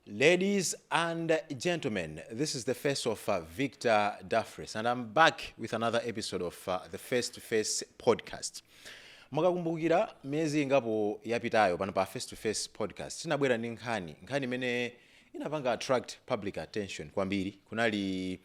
Ladies and gentlemen, this is the face of uh, Victor Daffrece, and I'm back with another episode of uh, the Face to Face podcast. mukakumbukira miyezi ingapo yapitayo pano pa face to face podcast tinabwera ndi nkhani nkhani imene inapanga attract public attention kwambiri kunali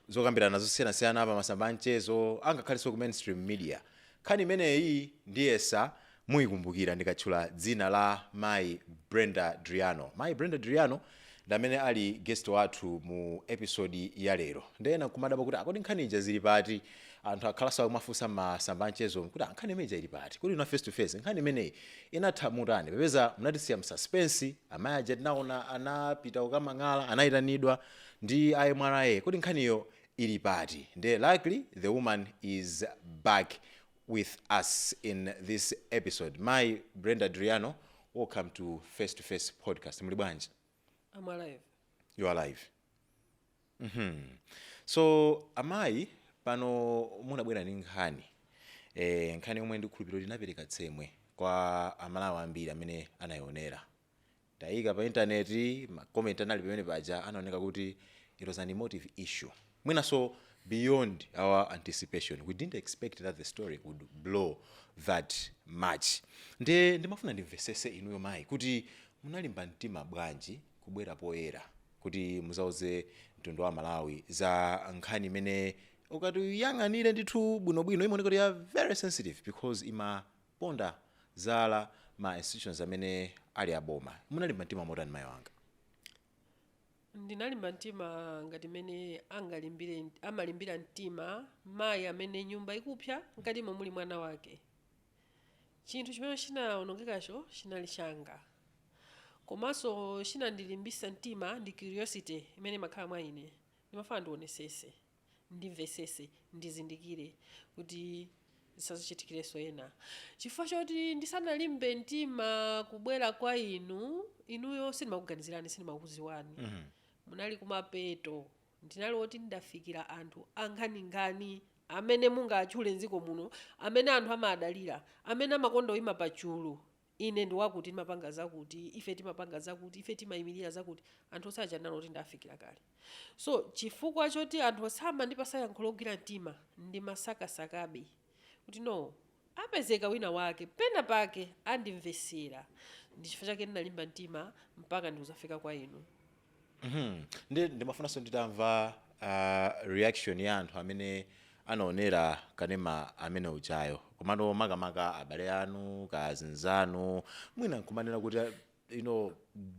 zokambirana zosiyanasiyana pa masamba a mchezo ngakhalenso ku mainstream media. Nkhani imeneyi ndiyesa muikumbukira ndikatchula dzina la mayi Brenda Driano. Mayi Brenda Driano ndi amene ali guest wathu mu episode ya lero. Nde ena mukumadabwa kuti ah kodi nkhani ija zili pati? Anthu akhalanso akumafunsa m'masamba a mchezomu kuti ah nkhani imene ija ili pati? Kodi inu a Face to Face nkhani imeneyi inatha motani? Popeza munatisiya mu suspense, amayi aja tinaona anapita kukamang'ala, anaitanidwa, ndi a MRA kodi nkhaniyo ili pati nde luckily the woman is back with us in this episode mayi brenda driano welcome to face to face podcast muli bwanji I'm alive. you are alive Mhm. so amayi pano munabwera ndi nkhani eh, nkhani yomwe ndikukhulupirira kuti inapereka tsemwe kwa amalawi ambiri amene anayionera Itaikidwa pa internet ma comment anali pamene paja anaoneka kuti it was an emotive issue mwinanso beyond our anticipation we didn't expect that the story would blow that much ndiye ndimafuna ndimvesese inuyo mayi kuti munalimba mtima bwanji kubwera poyera kuti muzauze mtundu wa amalawi za nkhani imene ukati uyang'anire ndithu bwinobwino imaoneka kuti ya very sensitive because ima ponda zala ma institutions amene ali a boma. Munalimba mtima motani mayi wanga? Ndinalimba mtima ngati mmene angalimbire, amalimbira mtima mayi amene nyumba ikupsa mkatimo muli mwana wake. Chinthu chimene chinawonongekacho chinali changa. Komanso chinandilimbitsa mtima ndi curiosity imene imakhala mwa ine. Ndimafuna ndionetsetse. ndimvetsetse, ndizindikire, kuti zisadzachitikirenso ena, chifukwa choti ndisanalimbe mtima kubwera kwa inu, inuyo sindimakuganizirani, sindimakudziwani, munali kumapeto, ndinali woti ndidafikira anthu angati-angati amene mungatchule m'dziko muno, amene anthu amawadalira, amene amakonda kuima pachulu. Ine ndi wakuti, ndimapanga zakuti, ife timapanga zakuti, ife timaimirira zakuti. Anthu onse aja anali oti ndawafikira kale. So, chifukwa choti anthu osamandipasa yankho logwira mtima, ndimasakasakabe, kuti, No. Apezeka wina wake, pena pake, andimvetsera. Ndi chifukwa chake ndinalimba mtima mpaka ndikuzafika kwa inu. Mhm. Ndi ndimafunanso nditamva ah, reaction ya anthu amene anaonera kanema amene ujayo komanso makamaka abale anu kazinzanu mwina nkuneneratu kuti ah, you know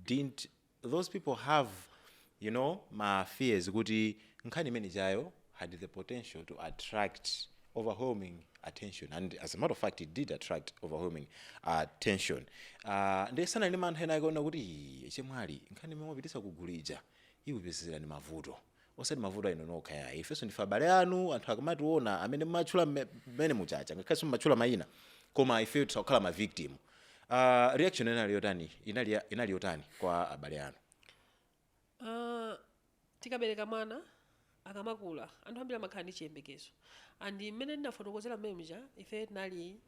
didn't those people have you know ma fears kuti nkhani imene ijayo had the potential to attract overwhelming attention and as a matter of fact it did attract overwhelming attention uh, nde sanali ndi mantha ena akaona kuti "Ii, chemwali nkhani imene mwapitisa kugulu ija ikupezerani mavuto osati mavuto a inu nokha yayi ifenso ndife abale anu anthu akamationa amene mumatchula mme- mmene mujamuja ngakhale simumatchula mayina koma ifeyo tisakhala ma victim uh, reaction inali yotani inali, inali yotani kwa abale anu Aaa tikabereka mwana akamakula anthu ambiri amakhala ndi chiyembekezo and mmene ndinafotokozera mmene muja ifeyo tinali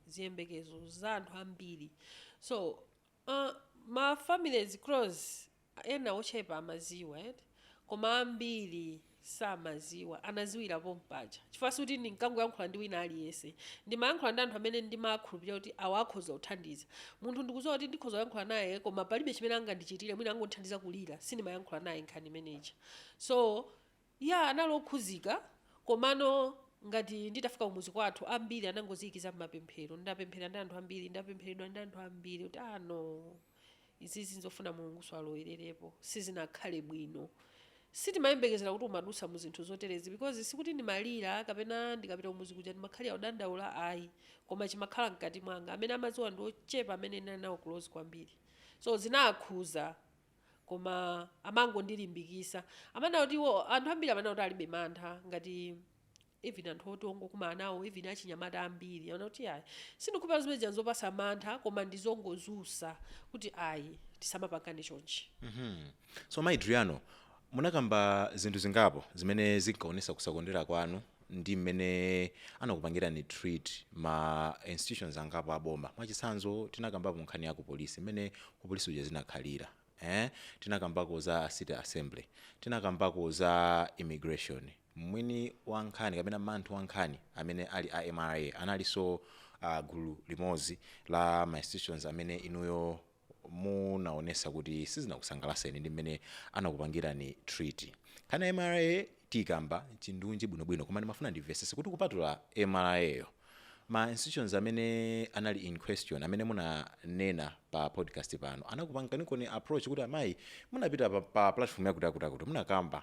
ziyembekezo za anthu ambiri so aaa ma families close ena ochepa amaziwa eti koma ambiri samaziwa anaziwira pompaja chifukwa sikuti ndinkangoyankhula ndi wina aliyense ndimayankhula ndi anthu amene ndimakhulupirira kuti awa akhoza kundithandiza munthu ndikuziwa kuti ndikhoza kuyankhula naye koma palibe chimene angandichitire mwina angondithandiza kulira sindimayankhula naye nkhani imene ija so ya anali okhuzika komano ngati nditafika kumuzi kwathu ambiri anangoziyika mmapemphero ndapemphera ndi anthu ambiri ndapempheredwa ndi anthu ambiri kuti ano ah, no. Izizi nzofuna Mulungunso alowererepo. Sizinakhale bwino. Sitimayembekezera kuti umadutsa mu zinthu zoterezi because sikuti ndimalira kapena ndikapita kumudzi kuja ndimakhalira kudandaula ayi koma chimakhala mkati mwanga. Amene amadziwa ndi ochepa amene ndinali nawo close kwambiri. So zinawakhuza koma amangondilimbikisa. Amanena kuti iwo anthu ambiri amanena kuti alibe mantha ngati even anthu oti ongokumana nawo even achinyamata ambiri aona kuti ayi sindikhulupirira zimene zija nzopasa mantha koma ndizongodzutsa kuti ayi tisamapangane chonchi Mhm. so mai driano munakamba zinthu zingapo zimene zinkaonesa kusakondwera kwanu ndi mmene anakupangirani treat ma institutions angapo aboma mwachitsanzo tinakambapo nkhani ya kupolisi mmene kupolisi uja zinakhalira eh? tinakambako za city assembly tinakambako za immigration Mwini wa nkhani kapena manthu wa nkhani amene ali a mra analinso a gulu limodzi la ma institutions amene inuyo munaonesa kuti sizinakusangalaseni ndi mmene anakupangirani treat. Nkhani ya mra tiyikamba chindunji bwino bwino koma ndimafuna ndimvesese kuti kupatula mra yo ma institutions amene anali in question amene munanena pa podcast pano anakupanganikoni approach kuti amayi munapita pa platform yakuti yakuti yakuti munakamba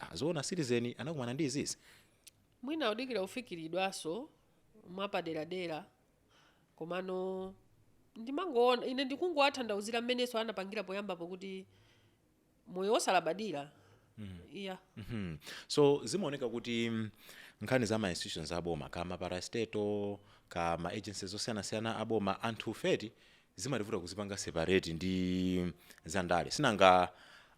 ah, zoona citizen inakumana ndi izizi mwina kudikira kufikiridwaso mwapaderadera komano ndimangoona ine ndikungowathandauzira mmenenso anapangira poyambapo kuti moyo wosalabadira iya Mhm. so zimaoneka kuti mm, nkhani za ma institutions aboma kaya ma parastatal kaya ma agencies osiyanasiyana aboma anthufe zimativuta kuzipanga separate ndi zandale sinanga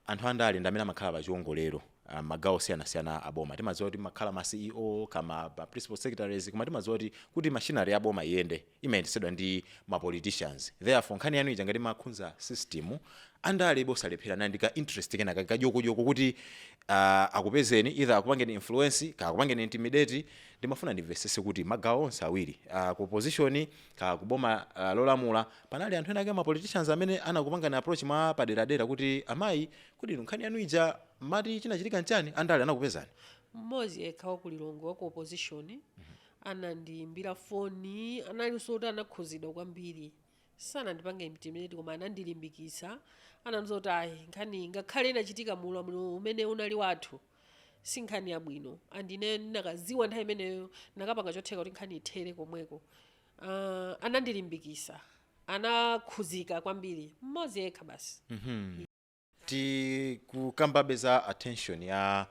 anthu andale ndi amene amakhala pa chiwongolero ah, magawo osiyanasiyana a boma timadziwa kuti kumakhala ma ceo kaya ma principal secretaries koma timadziwa kuti kuti machinery ya boma iyende imayendetsedwa ndi ma politicians therefore nkhani yanu ija ngati imakhudza system andale sangalephere kukhala ndi ka interest kena kake koti ah, akupezeni either akupangeni influence kaya akupangeni intimidate ndimafuna ndimvesese kuti magawo onse awiri ah, ku opposition Kaya ku boma uh, lolamula panali anthu ena ake ma politicians amene anakupangani approach mwa paderadera kuti amayi kodi inu nkhani yanu ija mati chinachitika nchani andale anakupezani mmodzi yekha wa ku lilongwe wa ku opposition anandiyimbira foni analinso oti anakhuzidwa kwambiri sanandipange intimidate koma anandilimbikitsa anandiuza kuti ayi nkhani ngakhale inachitika mu ulamuliro umene unali wathu si nkhani yabwino and ine ndinakaziwa nthawi imeneyo ndinakapanga chotheka kuti nkhani ithere komweko uh, anandilimbikisa anakhuzidwa kwambiri mmodzi yekha basi tikukambabe za attention ya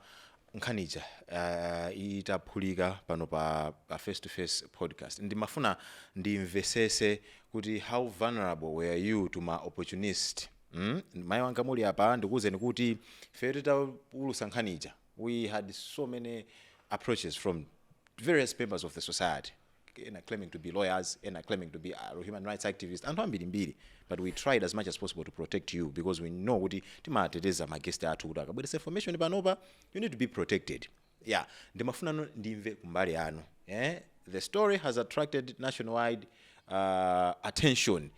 nkhanija uh, itaphulika pano pa, pa face to face podcast ndimafuna ndimvesese kuti how vulnerable were you to ma opportunist Mm, mayi Wankamuliya apa ndikuwuzeni kuti ifeyo titaulusa nkhani ija we had so many approaches from various members of the society ena claiming to be lawyers ena claiming to be uh, human rights activists anthu ambirimbiri but we tried as much as possible to protect you because we know kuti timateteza magesti athu kuti akabweresa information panopa you need to be protected ya ndimafunano ndimve kumbali yanu eh? the story has attracted nationwide uh, attention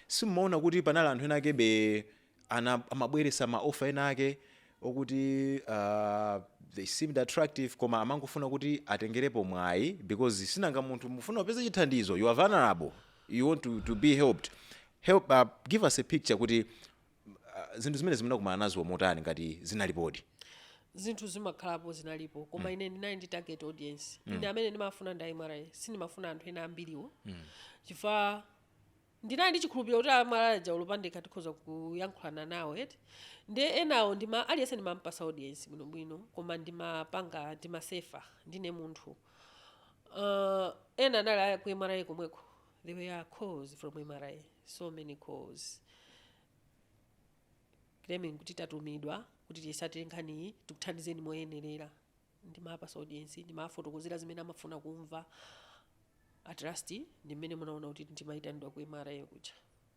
simumaona kuti panali anthu ena akebe ana- amabweresa ma offer ena ake okuti uh, they seemed attractive koma amangofuna kuti atengerepo mwayi because sinanga munthu umafuna upeze chithandizo you are vulnerable you want to, to be helped help uh, give us a picture kuti zinthu zimenezi munakumana nazo motani ngati zinalipodi? Zinthu zimakhalapo, zinalipo koma ine ndinali ndi target audience. Ine amene ndimafuna ndi a MRA, sindimafuna anthu ena ambiriwo chifukwa ndinali ndi chikhulupiriro kuti a MRA aja olo pandekha tikhoza kuyankhulana nawo eti. Ndiye enawo ndima aliyense ndimampasa audience bwinobwino koma ndimapanga ndimasefa ndine munthu. Uh, ena anali a ku MRA komweko There were calls from mra, so many calls claiming kuti tatumidwa kuti tiyisatire nkhaniyi tikuthandizeni moyenerera ndimawapasa audience ndimawafotokozera zimene amafuna kumva at last ndi mmene munaona kuti ndimayitanidwa ku mra kuja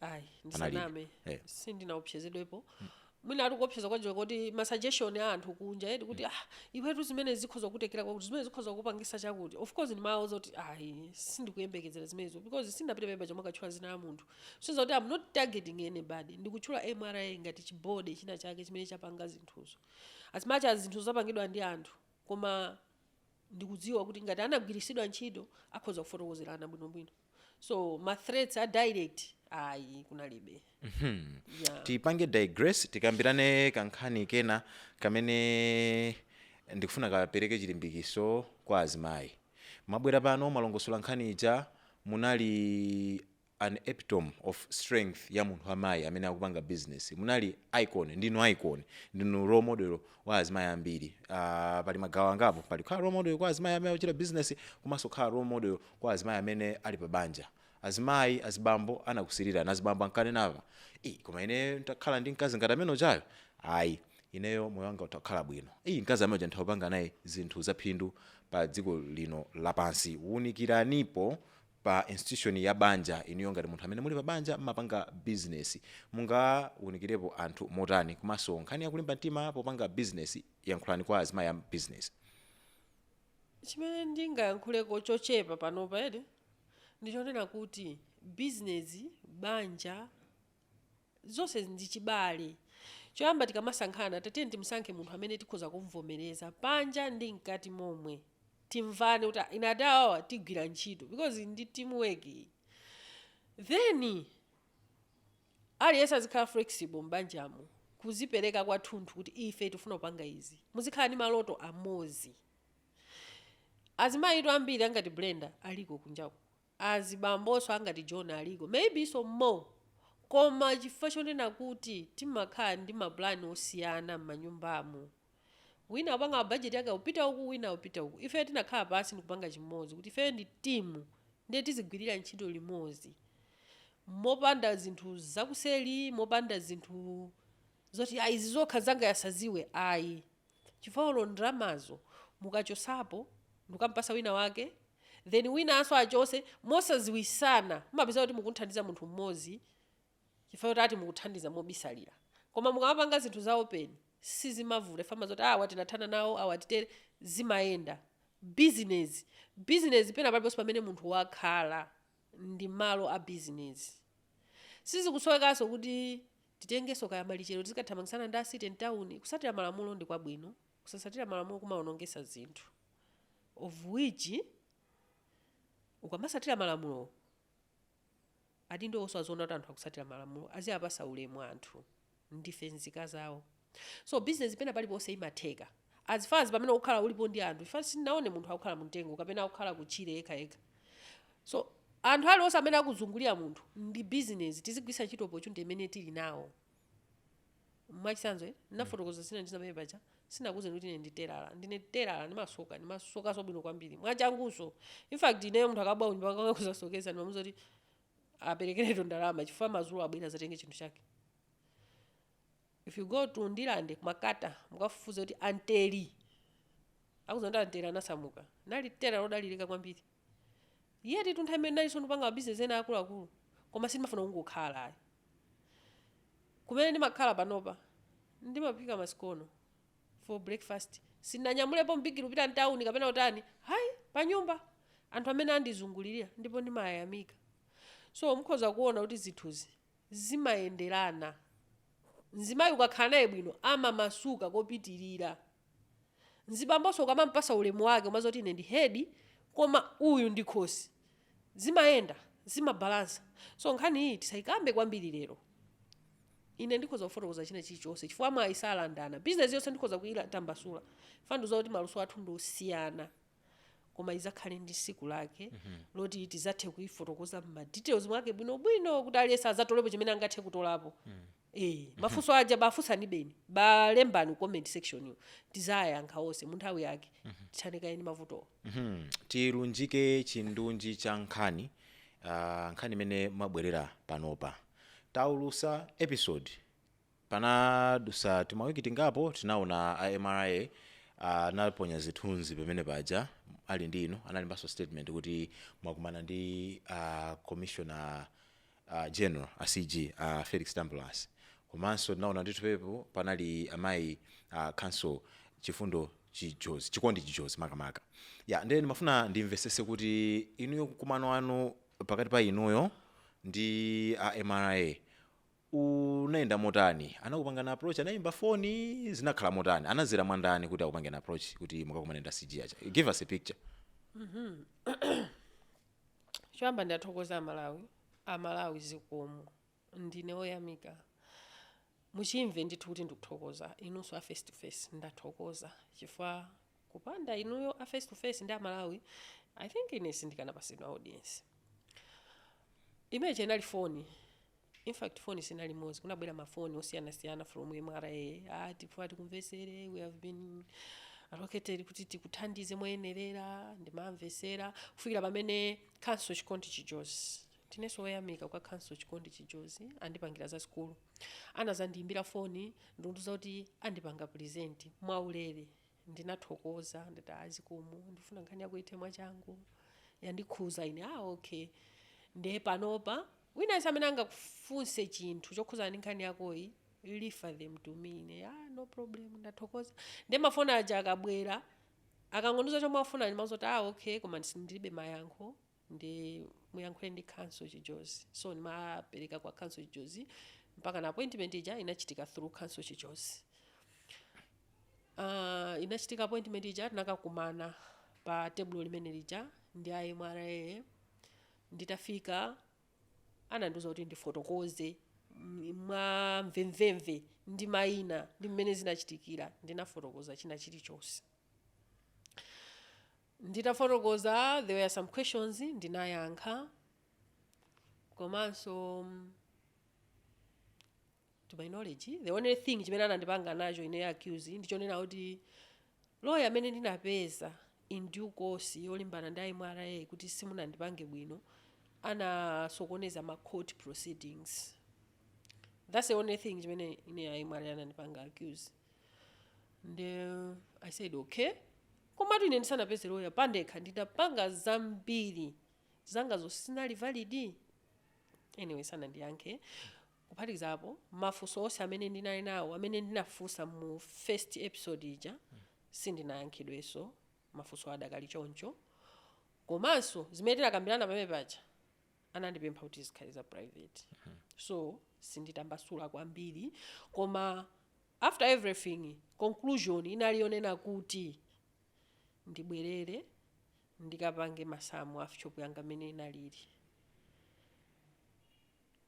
ayi Anali- ndisaname eh. sindinaopsezedwepo mwina ati kuopseza kwajiwa kuti masuggestion a anthu kunja eti kuti ah iwetu zimene zikhoza kukutengera kwakuti zimene zikhoza kukupangisa chakuti of course ndimawauza zoti ayi sindikuyembekezera zimenezo because sindinapite pamwambapo kukatchula zina la munthu since kuti am not targeting anybody ndikutchula mra ngati chi-body china chake chimene chapanga zinthuzo as much as zinthu zapangidwa ndi anthu Koma ndikudziwa kuti ngati anagwirisidwa ntchito akhoza kufotokozerana bwinobwino so ma threats a direct ayi kunalibe yeah. tipange digress tikambiraneko kankhani kena kamene ndikufuna kapereke chilimbikiso kwa azimayi mwabwera pano mwalongosola nkhani ija munali an epitome of strength ya munthu wa mayi amene akupanga business munali icon ndinu icon ndinu role model wa azimayi ambiri uh, pali magawo angapo pali kukhala role model kwa azimayi amene akuchita business komanso kukhala role model kwa azimayi amene ali pa banja azimayi azibambo anakusirirani azibambo akunena "Ii, koma ine ntakhala ndi mkazi ngati amene ujayo ayi ineyo moyo wanga ungakhale bwino ii mkazi amene uja nditha kupanga naye zinthu zaphindu pa dziko lino lapansi wunikiranipo pa institution ya banja. Inuyo ngati munthu amene muli pa banja mmapanga business mungawunikirepo anthu motani komanso nkhani ya kulimba mtima popanga business yankhulani kwa azimayi a business. Chimene ndingayankhuleko chochepa panopa eti ndichonena kuti business, banja, Zonse ndi chibale. Choyamba tikamasankhana tatiyeni timusankhe munthu amene tikhoza kumvomereza panja ndi mkati momwe. Timvane kuti ah, ine ndi awawa tigwira ntchito because ndi team work iyi. Then aliyense azikhala flexible m'banjamo kuzipereka kwathunthu kuti ife tifuna kupanga izi. Muzikhala ndi maloto amodzi. Azimayitu ambiri angati Brenda aliko kunjaku. azibamboso angati John aliko maybe even more koma chifukwa chonena kuti timakhala ndi ma plan osiyana mmanyumbamu wina akupanga ma budget ake akupita uku wina akupita uku ifeyo tinakhala pansi ndikupanga chimodzi kuti ifeyo ndi team ndiye tizigwirira ntchito limodzi mopanda zinthu zakuseri mopanda zinthu zoti ayi izi zokha nzangayo asaziwe ayi chifukwa olo ndalamazo mukachosapo ndikukampasa wina wake then winanso akachose mosaziwisana mumapezeka kuti mukuthandiza munthu mmozi chifukwa choti ati mukuthandiza mobisalira koma mukamapanga zinthu za open sizimavuta chifukwa amadziwa kuti awa tinathana nawo awa titere zimayenda bizinezi bizinezi pena paliponse pamene munthu wakhala ndi malo a bizinezi sizikusowekanso kuti Titengenso kaya malichero tizikathamangitsana ndi a city mtawuni kusatira malamulo ndi kwabwino kusasatira malamulo kumaonongesa zinthu of which ukamasatira malamulowo adindowonso aziona kuti anthu akusatira malamulo aziapasa ulemu anthu ndife mzika zawo. So business pena paliponse imatheka as far as pamene ukukhala ulipo ndi anthu chifukwa sindinaonepo munthu akukhala mumtengo kapena akukhala kutchire yekha yekha so anthu aliwonse amene akuzungulira munthu ndi business tizigwiritsa ntchito opportunity imene tili nawo mwachitsanzo eh, ndinafotokoza zina ndi zimene paja sinakuuzeni kuti ine ndi telala ndine telala ndimasoka ndimasokanso bwino kwambiri mwachangunso in fact ineyo munthu akabwera kunyumba kwanga akuzasokeza ndimamuuza kuti aperekeretu ndalama chifukwa madzulo abwera azatenge chinthu chake If you go to Ndirande ku Makata mukafufuze kuti Anthely akudziwa kuti Anthely anasamuka anali telala lodalirika kwambiri yet nthawi imene nalinso ndipanga mabizinesi ena akuluakulu koma sindimafuna kungokhala ayi kumene ndimakhala panopa ndimaphika masikono for breakfast sindinanyamulepo m'bigiri kupita mtawuni kapena kutani ayi panyumba anthu amene andizungulirira ndipo ndimayamika so mukhoza kuona kuti zinthuzi zimayenderana. Mzimayi ukakhala naye bwino amamasuka kopitirira. Mzibambonso ukamampasa ulemu wake umaziwa kuti ine ndi head koma uyu ndi khosi. Zimayenda, zimabalansa. So nkhani iyi tisayikambe kwambiri lero. Ine ndikhoza kufotokoza china chilichonse chifukwa mwayi salandana. Business iliyonse ndikhoza kuyitambasula chifukwa ndikuziwa kuti maluso athu ndi osiyana. koma idzakhale ndi siku lake loti tizathe kuifotokoza m'ma details mwake bwino bwino kuti aliyense azatolepo chimene angathe kutolapo Eh, mafunso aja bafunsani beni balembani ku comment section yo tizayankha onse mu nthawi yake tithane kaye ndi mavutowo Mhm. tilunjike chindunji cha nkhani ah, nkhani imene mwabwerera panopa taulusa episode Panadusa timawiki tingapo tinaona a mra anaponya zithunzi pamene paja ali ndi inu analembanso statement kuti mwakumana ndi a commissioner general a CG a Felix Tambulasi komanso tinaona ndithu pamenepo panali amayi a counsel Chifundo Chijozi Chikondi Chijozi makamaka ya nde ndimafuna ndimvetsetse kuti inuyo mkumano wanu pakati pa inuyo ndi a mra unayenda motani anakupangani approach anayimba foni zinakhala motani anadzera mwa ndani kuti akupangeni approach kuti mukakumane ndi a CG aja give us a picture choyamba ndathokoza amalawi amalawi zikomo ndine oyamika muchimve ndithu kuti ndikuthokoza inunso a face to face ndathokoza chifukwa kupanda inuyo a face to face ndi amalawi i think ine sindikanapatsidwa audience imene ija inali foni Infact phone sinali imodzi kunabwera ma phone osiyana siyana from MRA ah tifuna tikumvetsere we have been allocated kuti tikuthandize moyenerera ndimamvetsera kufikira pamene counsel chikondi chijozi ndinenso woyamika kwa counsel chikondi chijozi andipangira zazikulu anadzandiyimbira phone ndikundiuza kuti andipanga represent mwaulere ndinathokoza ndati ah zikomo ndifuna nkhani yako ithe mwachangu yandikhuza ine ah okay nde panopa Wina aliyense amene angakufunse chinthu chokhuzana ndi nkhani yakoyi refer them to me ine aah no problem ndathokoza nde ma phone aja akabwera akangondiuza chomwe akufuna ndimauza kuti aah okay koma ndis ndilibe mayankho nde muyankhule ndi counsel Chijozi so ndimapereka kwa counsel Chijozi mpakana appointment ija inachitika through counsel Chijozi. Aah inachitika appointment ija tinakakumana pa tebulo limene lija ndi a mra Nditafika, anandiuza kuti ndifotokoze mwamvemvemve ndi maina ndi mmene zinachitikira. Ndinafotokoza china chilichonse. Nditafotokoza, there were some questions ndinayankha komanso to my knowledge the only thing chimene anandipanga nacho ine accuse ndichonena kuti loya amene ndinapeza in due course yolimbana ndi a MRA kuti simunandipange bwino anasokoneza ma court proceedings that's the only thing chimene ine a MRA anandipanga accuse nde i said okay komatu ine ndisanapeze loya pandekha ndinapanga zambiri zanga zo sizinali valid anyway sanandiyankhe Kuphatikiza apo, mafunso onse amene ndinali nawo amene ndinafunsa mu first episode ija sindinayankhidwenso mafunso aja adakali choncho komanso zimene tinakambirana pamene paja anandipempha kuti zikhale za private so sinditambasula kwambiri koma after everything conclusion inali yonena kuti ndibwerere ndikapange masamu a shop yanga mmene inalili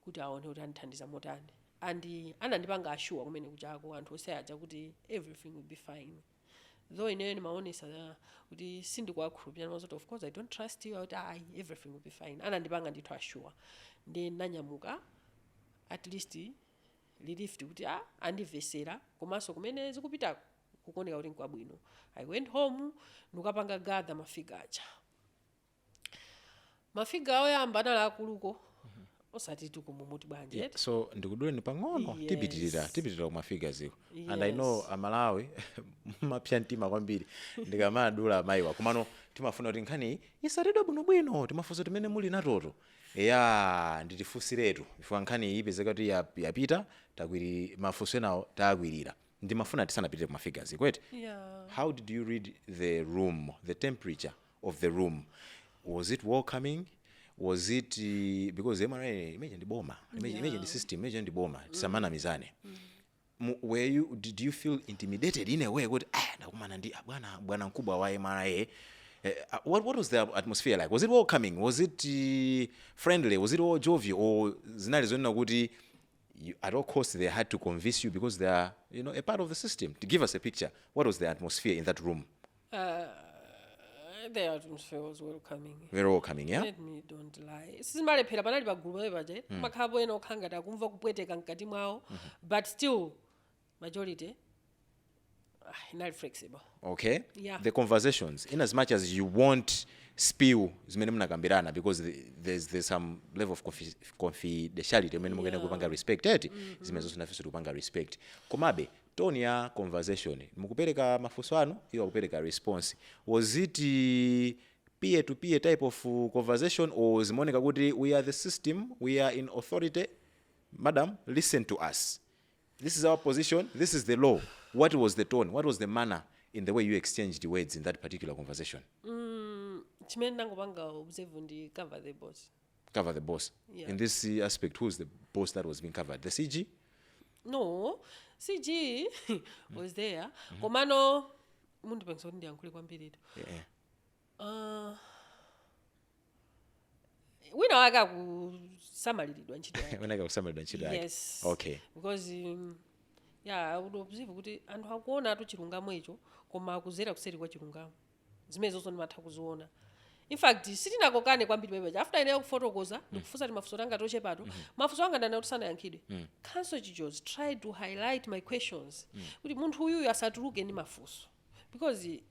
kuti aone kuti andithandiza motani and anandipanga assure kumene kuchako anthu onse aja kuti everything will be fine though ineyo ndimaonesa uh, kuti sindikuwakhulupirira ndimaona kuti of course i don't trust you akuti ayi everything will be fine anandipanga ndithu assure ndinanyamuka at least relieved kuti ah, andivesera komanso kumene zikupitako kukoneka kuti nkwabwino i went home ndikapanga gather mafigures aja mafigures oyamba anali akuluko osati tikumumuti bwanji Yeah, eti? so ndikuduleni pang'ono Yes. tipitirira tipitirira kumafiguresiko and i know Yes. amalawi mapsa mtima kwambiri ndikamadula amayiwa komano timafuna kuti nkhani isatidwe bwinobwino timafunso timene muli natoto ya nditifunsiretu chifukwa nkhani iyi ipezeka kuti yap- yapita takwiri mafunso enawo takwirira ndimafuna tisanapitire kumafiguresiko eti Yeah. how did you read the room the temperature of the room was it welcoming was it uh, because mra imagine ndi boma imagine, yeah. imagine ndi system imagine ndi boma tisamanamizane Mu- were you did you feel intimidated in a way kuti ah ndakumana ndi ah, bwana bwana mkubwa wa mra eh, ah, what, what was the atmosphere like was it welcoming was it uh, friendly was it all jovial or zinali zonena kuti you, at all costs they had to convince you because they are you know a part of the system to give us a picture what was the atmosphere in that room the atmosphere welcoming very welcoming yeah let me not lie sizimalephera panali pagulu pamene paja kumakhalapo ena okhala ngati akumva kupweteka mkati mwawo but still majority ah, inali flexible okay Yeah. the conversations in as much as you won't spill zimene mnakambirana because the- there's, there's some level of confi- confidentiality imene mukuyenera kupanga respect eti zimenezo nafenso tikupanga respect komabe tone ya conversation mukupereka mafunso anu iwo akupereka response was it peer to peer type of conversation or zimaoneka kuti we are the system we are in authority madam listen to us this is our position this is the law what was the tone what was the manner in the way you exchanged words in that particular conversation chimene ndangopanga observe ndi cover the boss cover the boss Yeah. in this uh, aspect who is the boss that was being covered the cg no cg was there komano mundipangisa kuti ndiyankhule kwambiritu yeah. Ah, wina wake akusamaliridwa ntchito yake unaka kusamalidwa ntchito yake yes okay because um, ya unadziwa kuti anthu akuonatu chilungamo icho koma akudzera kuseri kwa chilungamo zimenezozo ndimatha kuziona infact sitinakokane kwambiri pamene paja after ineyo kufotokoza ndikufunsa timafunso tanga tochepato mafunso anga ndinaona kuti sanayankhidwe counsel chijozi tried to highlight my questions kuti munthu uyuyu asatuluke ndi mafunso because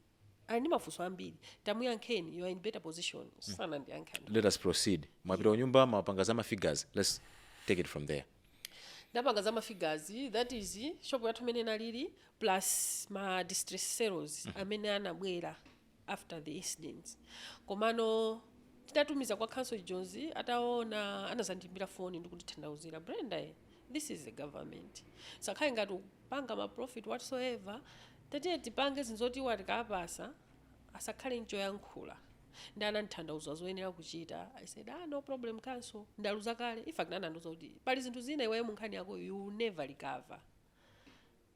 ali ndi mafunso ambiri tamuyankheni you are in better position sanandiyankhe let us proceed mwapita kunyumba mwapanga za mafigures let's take it from there ndapanga za mafigures that is shopu yathu imene inalili plus ma distress sales amene anabwera after the incidents komano titatumiza kwa counsel chijozi ataona anazandimbira foni ndikundithandauzira brenda eh, this is the government sakhale ngati upanga ma profit whatsoever tatiye tipange zinthu zoti iwo atikapasa asakhale n'choyankhula ndi anandithandauza zoyenera kuchita i said ah, no problem counsel ndaluza kale in fact anandiuza kuti pali zinthu zina iweyo munkhani yako you will never recover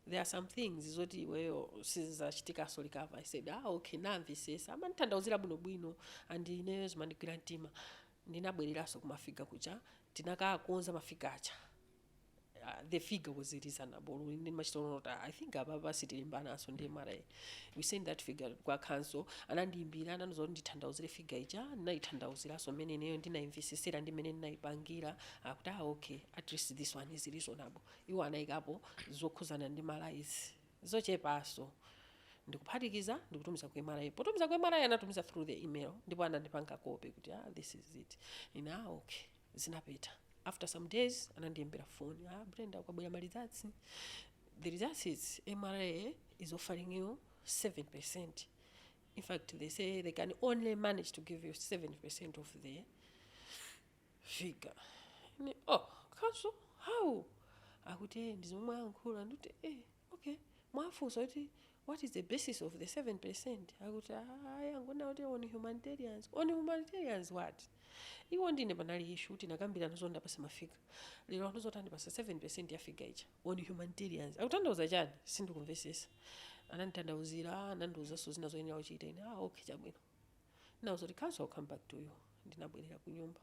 there are some things zoti iweyo sizizachitikaso recovered i said ah okay namvisesa anandithandauzira bwinobwino and ineyo zimandigwira mtima ndinabwereraso kumafiga kuja tinakakonza mafiga aja uh, the figure was reasonable ndi nachitono kuti i think apapa sitilimbanaso ndi mra we send that figure kwa council anandiimbira anandiuza kuti ndithandauzire figure ija ndinayithandauziraso mmene ineyo ndinayimvisesera ndi mmene ndinayipangira akuti ah okay at least this one is reasonable Iwo anaikapo zokhuzana ndi malayisi zochepaso ndikuphatikiza ndikutumiza ku mra. Potumiza ku mra anatumiza through the email ndipo anandipanga copy kuti ah this is it. Ine ah okay. Zinapita. After some days anandiimbira phone, ah Brenda kwabwera ma results. The results is mra is offering you 7%. In fact they say they can only manage to give you 7% of the figure ine oh council how akuti eh ndi zomwe ayankhula ndikuti eh okay mwafunsa kuti what is the basis of the 7 percent akuti ayi angonena kuti on humanitarians on humanitarians what iwo ndine panali issue kuti nakambirana zoti ndapasidwa mafiga lero anthu zoti andipasa 7 percent ya figure ija on humanitarians akuthandauza chani sindikumvesesa anandithandauzira anandiuzanso zina zoyenera kuchita ine ah okay chabwino Nawauza zoti council I will come back to you ndinabwerera kunyumba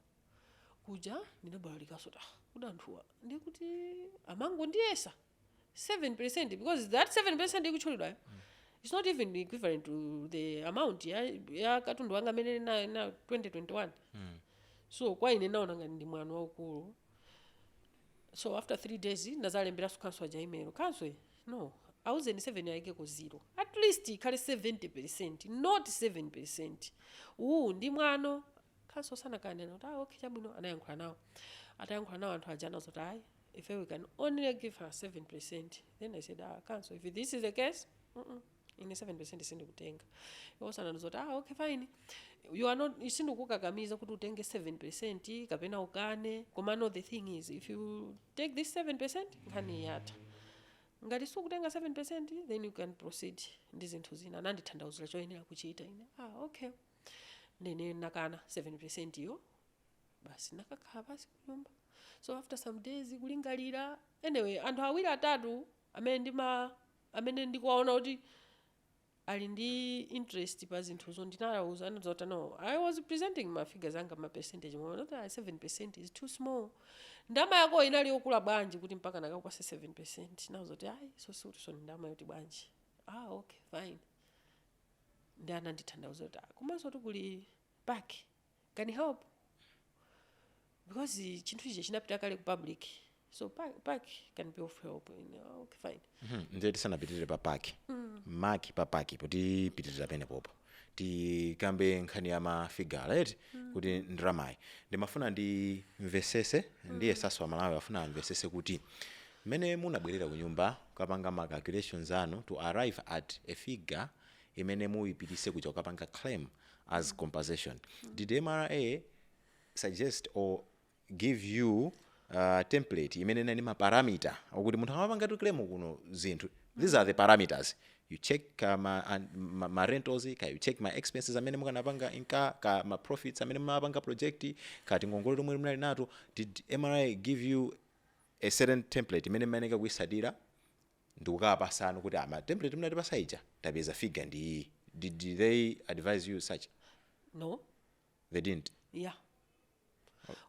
kuja ndinabalalikaso ta kuti anthuwa ndiye kuti amangondiyesa 7% because that 7% ikutchulidwayo it's not even equivalent to the amount ya, ya katundu wanga amene na, na 2021 so kwa ine ndinaona ngati ndi mwano waukulu so after 3 days ndinazalemberaso council aja email council no auzeni 7 ayikeko 0 at least ikhale 70 percent not 7 percent uwu ndi mwano council anakanena kuti ah, okay chabwino anayankhula nawo atayankhula nawo anthu aja anazati ayi ife we can only give her 7 percent then i said ah, council if this is the case mm -mm. ine 7% sindikutenga iwo anandiuza kuti ah okay fine you are not sindikukakamiza kuti utenge 7% kapena ukane komano the thing is if you take this 7% nkhani yatha ngati sukutenga 7% then you can proceed ndi zinthu zina anandithandauzira choyenera kuchita ine ah okay ndine nakana 7% yo basi nakakhala pasi kunyumba so after some days kulingalira anyway anthu awiri atatu amene ndima amene ndikuwaona kuti ali ndi interest pa zinthuzo ndinawauza anaza kuti no i was presenting ma figures anga ma percentage mwati 7% is too small ndama yako inali yokula bwanji kuti mpaka akakupase 7% nawuza kuti ayi so sikuti so ndama yoti bwanji ah okay fine nde anandithandauza kuti "Ah, komanso kuti kuli back can help because chinthu chija chinapita kale ku public so park, park can be of help in, uh, okay, fine Mhm, ndiye tisanapitirire pa PAC PAC, pa PAC popitirira penepopo tikambe nkhani ya mafiga eti kuti ndramayi ndimafuna ndimvesese ndiye awoso amalawi afuna amvesese kuti mmene munabwerera ku nyumba kukapanga ma calculations anu to arrive at a figure imene munayipititsa kuja kukapanga claim as compensation did mra suggest or give you uh, template imene inali maparameter okuti munthu akamapanga to claim kuno zinthu these are the parameters you check uh, ma, an- ma, ma rentals kaya you check ma expenses amene mukanapanga incur kaya ma profits amene mumapanga project ka tingongole tomwe munali nato did mra give you a certain template imene mumayeneka kuisatira ndikukawapasa anthu kuti pa template munatipasa ija tapeza figure ndi iyi did they advise you such no they didn't ya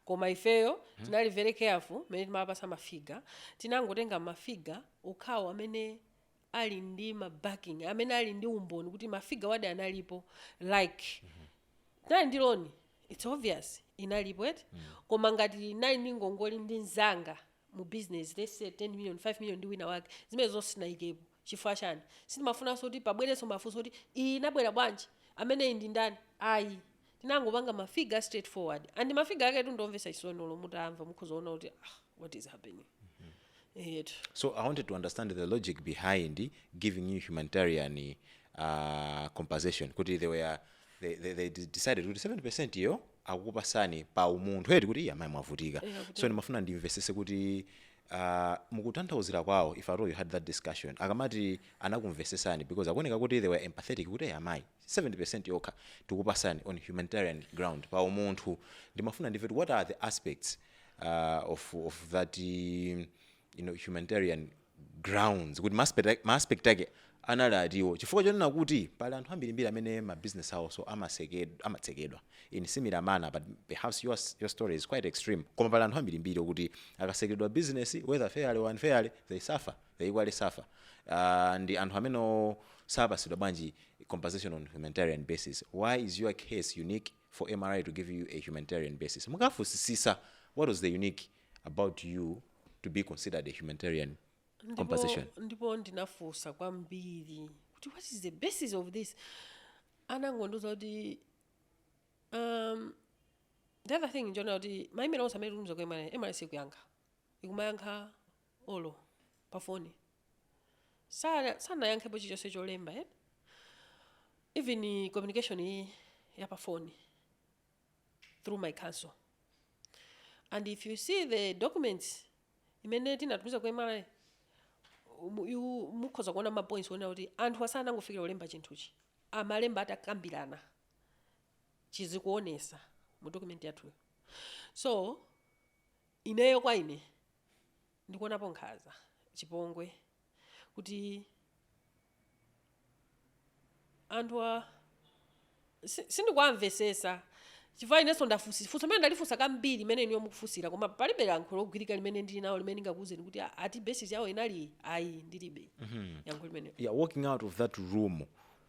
koma ifeyo tinali very careful mene timapasa mafiga tinangotenga mafiga okhawo amene ali ndi mabacking amene ali ndi umboni kuti mafigawadi analipo like tinali ndi loni its obvious inalipo eti koma ngati ndinali ndi ngongole ndi mzanga mu business let's say 10 million 5 million ndi wina wake zimenezo sindinayikepo chifukwa chani sindimafunanso kuti pabwerenso mafunso kuti iyi inabwera bwanji ameneyi ndi ndani ayi tinangopanga ma figure straight forward and ma figure aketu ndi omvesa chisoni olo mutawamva mukhoza kuona kuti ah, what is happening eyetu So I wanted to understand the logic behind giving you humanitarian uh, compensation. Kuti they were they, they, they de- decided kuti 70 percent iyo akukupasani pa umunthu eti kuti "Iya, mayi mwavutika Yeah, kuti- so ndimafuna ndimvesese kuti uh, mukutanthauzira kwawo if at all you had that discussion akamati anakumvesesani because akuoneka kuti they were empathetic kuti "Iya, mayi 70 percent yokha tikupasani on humanitarian ground pa umunthu ndimafuna ndimve kuti what are the aspects uh, of, of that um, you know, humanitarian grounds kuti ma aspect ma aspect ake anali ati chifukwa chonena kuti pali anthu ambirimbiri amene ma business awoso amasekedwa amatsekedwa in similar manner but perhaps your your story is quite extreme koma pali anthu ambirimbiri okuti akatsekedwa business whether fairly or unfairly they suffer they equally suffer uh, ndi anthu amenewo sapasidwa bwanji compensation on humanitarian basis why is your case unique for mra to give you a humanitarian basis munafunsisisa what was the unique about you to be considered a humanitarian compensation ndipo, ndipo ndinafunsa kwambiri kuti what is the basis of this anangondiuza kuti um, the other thing ndi chonena kuti ma email onse amene tikutumiza kwa mra mra ikuyankha ikumayankha olo pa foni Sana- sanayankhepo chilichonse cholemba eh? even communication iyi ya pa foni through my counsel and if you see the documents imene tinatumiza ku mra mu- you- mukhoza kuona ma points onena kuti anthu asanangofikira kulemba chinthuchi amalemba atakambirana chizikuonesa mu document yathuyo so ineyo kwa ine ndikuonapo nkhaza chipongwe kuti anthu a si- sindikuwamvesesa chifukwa inenso ndafunsa funso limene ndalifunsa kambiri limene inuyo mukufunsira koma palibe yankho logwirika limene ndili nawo limene ndingakuwuzeni kuti "Ah, ati basis yawo inali ayi ndilibe yankho limene yeah, walking out of that room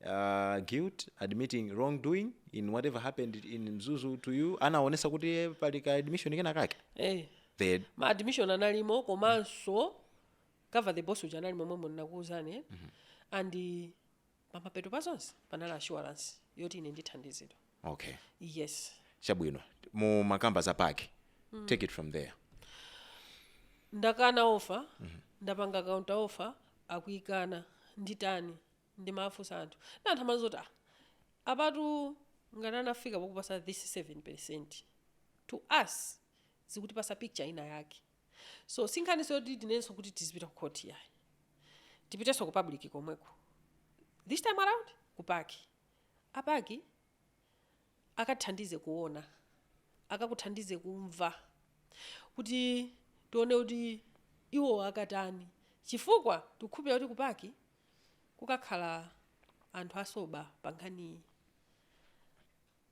uh, guilt admitting wrongdoing in whatever happened in mzuzu to you anaonesa kuti eh, pali ka admission kena kake eh. the ma admission analimo komanso cover the boss uja anali momwemu nakuuzani eh? and eh, pamapeto pa zonse panali assurance yoti ine ndithandizidwa okay yes chabwino mumakamba za PAC take it from there ndakana offer ndapanga counter offer akuyikana nditani ndimafunsa anthu nde anthu amandiuza kuti ah apatu ngati anafika pokupasa this 7% to us zikutipasa picture ina yake so si nkhaniso yoti tinenenso kuti tizipita ku court yayi tipitenso ku public komweko this time around ku PAC a PAC akathandize kuona akakuthandize kumva kuti tione kuti iwo akatani chifukwa tikukhulupirira kuti ku PAC kukakhala anthu a sober pa nkhaniyi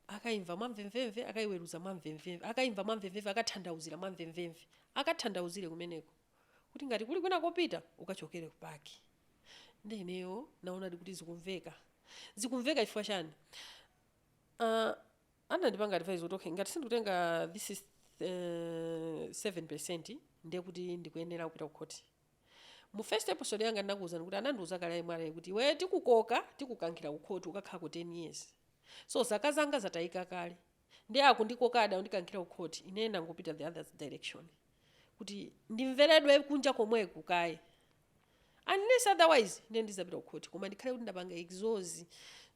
akaimva mwamvemvemve akaiweruza mwamvemvemve akaimva mwamvemvemve akathandauzira mwamvemvemve akathandauzire kumeneko kuti ngati kuli kwina kopita ukachokere ku PAC nde ineyo naonadi kuti zikumveka zikumveka chifukwa chani uh, anandipanga advise kuti okay ngati sindikutenga this is uh, 7 percent ndiye kuti ndikuyenera kupita ku khoti Mu first episode yanga ndinakuuzani kuti anandiuza kale a mra kuti iweyo tikukoka tikukankhira ku khoti ukakhalako 10 years. So zaka zanga zatayika kale. Ndiye akundikokadi akundikankhira ku khoti ineyo ndangopita the other direction kuti ndimveredwe kunja komweku kaye unless otherwise ndiye ndizapita ku khoti koma ndikhale kuti ndapanga exhaust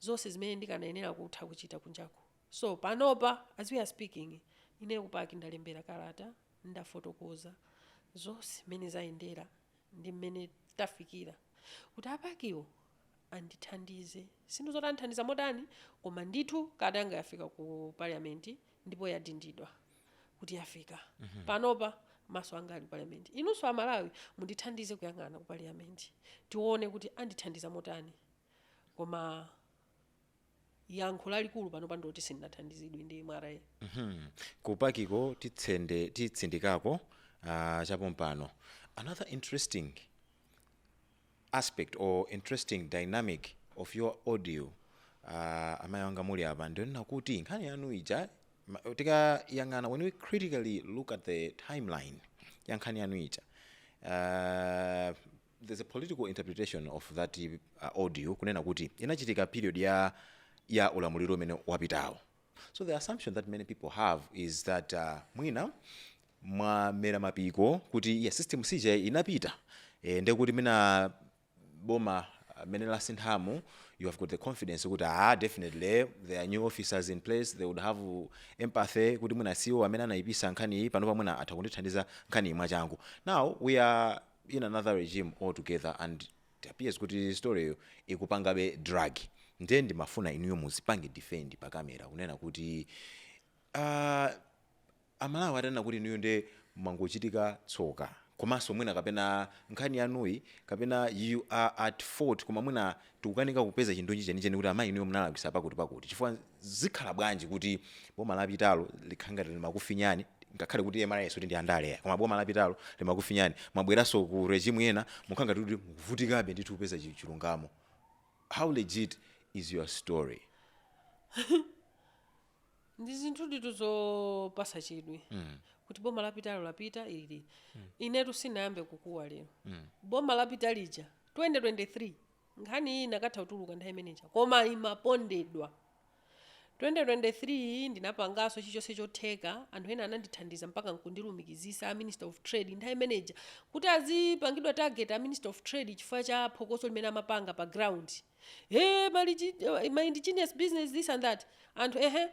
zonse zimene ndikanayenera kutha kuchita kunjako. So panopa as we are speaking ineyo ku PAC ndalembera kalata Ndafotokoza zonse mmene zayendera ndi mmene tafikira kuti a PAC-wo andithandize. Sindikudziwa kuti andithandiza motani koma ndithu kalata yanga yafika ku parliament ndipo yadindidwa kuti yafika. Panopa maso anga ali ku parliament. Inunso a Malawi mundithandize kuyang'ana ku parliament tione kuti andithandiza motani koma. yankho lalikulu panopa ndiloti sindinathandizidwe ndi mra Mhm. ku pakiko titsende titsindikako uh, chapompano another interesting aspect or interesting dynamic of your audio uh, amayi anga muli apa ndionena kuti nkhani yanu ija ma- tikayang'ana when we critically look at the timeline ya nkhani yanu ija uh, there's a political interpretation of that uh, audio kunena kuti inachitika period ya ya ulamuliro umene wapitawo so the assumption that many people have is that uh, mwina mwamera mapiko kuti ya system ija inapita e, ndekuti mwina boma mmene lasinthamu you have got the confidence kuti ah definitely there are new officers in place they would have empathy kuti mwina siwo amene anayipisa nkhani iyi panopa mwina atha kundithandiza nkhani iyi mwachangu now we are in another regime altogether and it appears kuti story yo ikupangabe drag ndiye ndimafuna inuyo muzipange defend pa kamera kunena kuti uh, amalawi atanena kuti inuyo nde mwangochitika tsoka komanso mwina kapena nkhani yanuyi kapena you are at fault koma mwina Tikukanika kupeza chindunji chenicheni kuti amayi inuyo munalakwisa pakuti pakuti chifukwa zikhala bwanji kuti boma lapitalo likhala ngati limakufinyani ngakhale kuti mra sikuti ndi yandale yayi koma boma lapitalo limakufinyani mwabweranso ku regime yina mukukhala ngati kuti mukuvutikabe ndithu kupeza chilungamo how legit is your story? ndi zinthuditu zopasa chidwi Mm. kuti boma lapitalo lapita ili inetu sinayambe kukuwa lero Mm. boma lapita lija 2023 nkhani iyi inakatha kutuluka nthawi imeneja koma imapondedwa 2023 ndinapanganso chilichonse chotheka anthu ena anandithandiza mpaka nkundilumikizisa a minister of trade nthawi imeneja kuti azipangidwa target a minister of trade chifukwa cha phokoso limene amapanga pa ground eh mali chi- eh, ma indigenous business this and that anthu ehe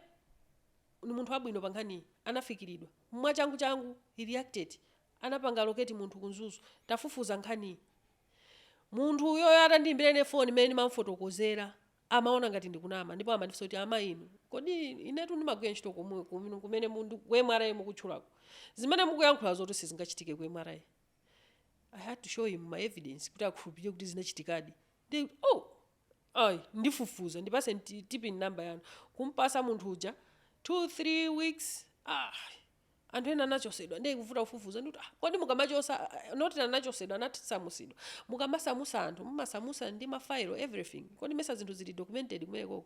ni munthu wabwino pa nkhaniyi anafikiridwa mwachangu changu he reacted anapanga locate munthu ku mzuzu tafufuza nkhaniyi munthu uyoyo atandiimbira ine foni mmene ndimamfotokozera amaona ngati ndikunama ndipo amandifunsa kuti amayi inu kodi inetu ndimagwira ntchito komwe kumene kumene mundu- ku mra mukutchulako zimene mukuyankhula zoti sizingachitike ku mra i had to show him my evidence kuti akhulupirire kuti zinachitikadi ndi oh ayi ndifufuza ndipaseni ti- tpin namba yanu kumpasa munthu uja 2 3 weeks ah anthu ena anachosedwa ndiye kuvuta kufufuza ndikuti ah, kodi mukamachosa ah, not anachosedwa anasamusidwa mukamasamusa anthu mumasamusa ndi mafailo everything kodi mesa zinthu zili documented kumekoko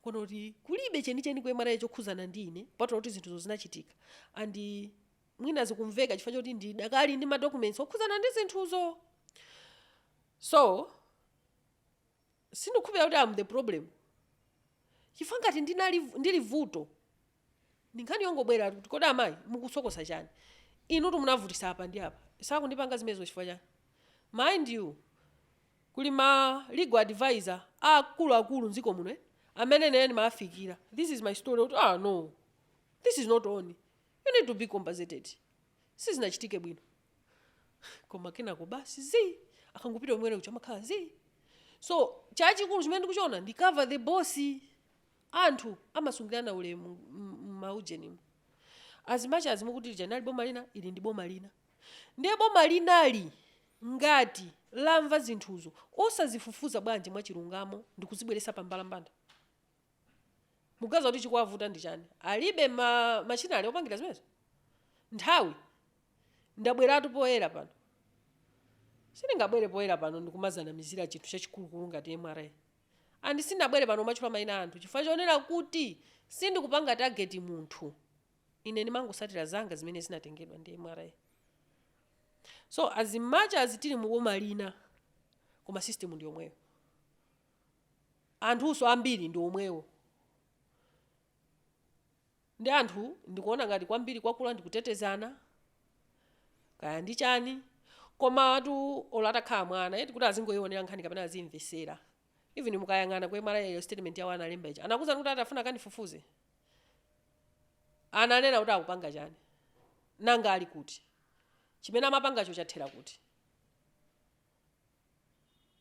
kono kuti kulibe chenicheni ku mra chokhuzana ndi ine kupatula kuti zinthuzo zinachitika and mwina zikumveka chifukwa choti ndidakali ndi ma documents okhudzana ndi zinthuzo so sindikukhulupirira kuti am the problem chifukwa ngati ndinali ndili vuto ndi nkhani yongobwera kuti kodi amayi mukusokosa chani inutu munavutisa apa ndi apa sakundipanga zimenezo chifukwa chani mind you kuli ma legal advisor akuluakulu mdziko muno eh, amene ine ndimawafikira this is my story kuti ah no this is not on you need to be compensated sizinachitike bwino koma kenako basi zii akangopita kumene kuja amakhala zii so chachikulu chimene ndikuchiona ndi cover the boss anthu amasungirana ulemu m- m- maujenimu azimacha azimukuti lija nali boma lina ili ndi boma lina ndiye boma linali ngati lamva zinthuzo osazifufuza bwanji mwachilungamo ndikuzibweresa pa mbalambanda mukuganiza kuti chikuwavuta ndi chani alibe ma machinery opangira zimenezo nthawi ndabweratu poyera pano sindingabwere poyera pano ndikumazanamizira chinthu chachikulukulu ngati mra and sindinabwere pano kumatchula mayina a anthu chifukwa chonena kuti sindikupanga target munthu ine ndimangosatira zanga zimene zinatengedwa ndi mra so as much as tili muboma lina koma system ndi yomweyo anthunso ambiri ndi omwewo ndi anthu ndikuona ngati kwambiri kwakula ndikutetezana kaya ndi chani komatu olo atakhala mwana eti kuti azingoionera nkhani kapena azimvesera even mukayang'ana ku mra yo statement yawo analemba ija anakuuzani kuti atafuna akandifufuze ananena kuti akupanga chani nanga ali kuti chimene amapangacho chathera kuti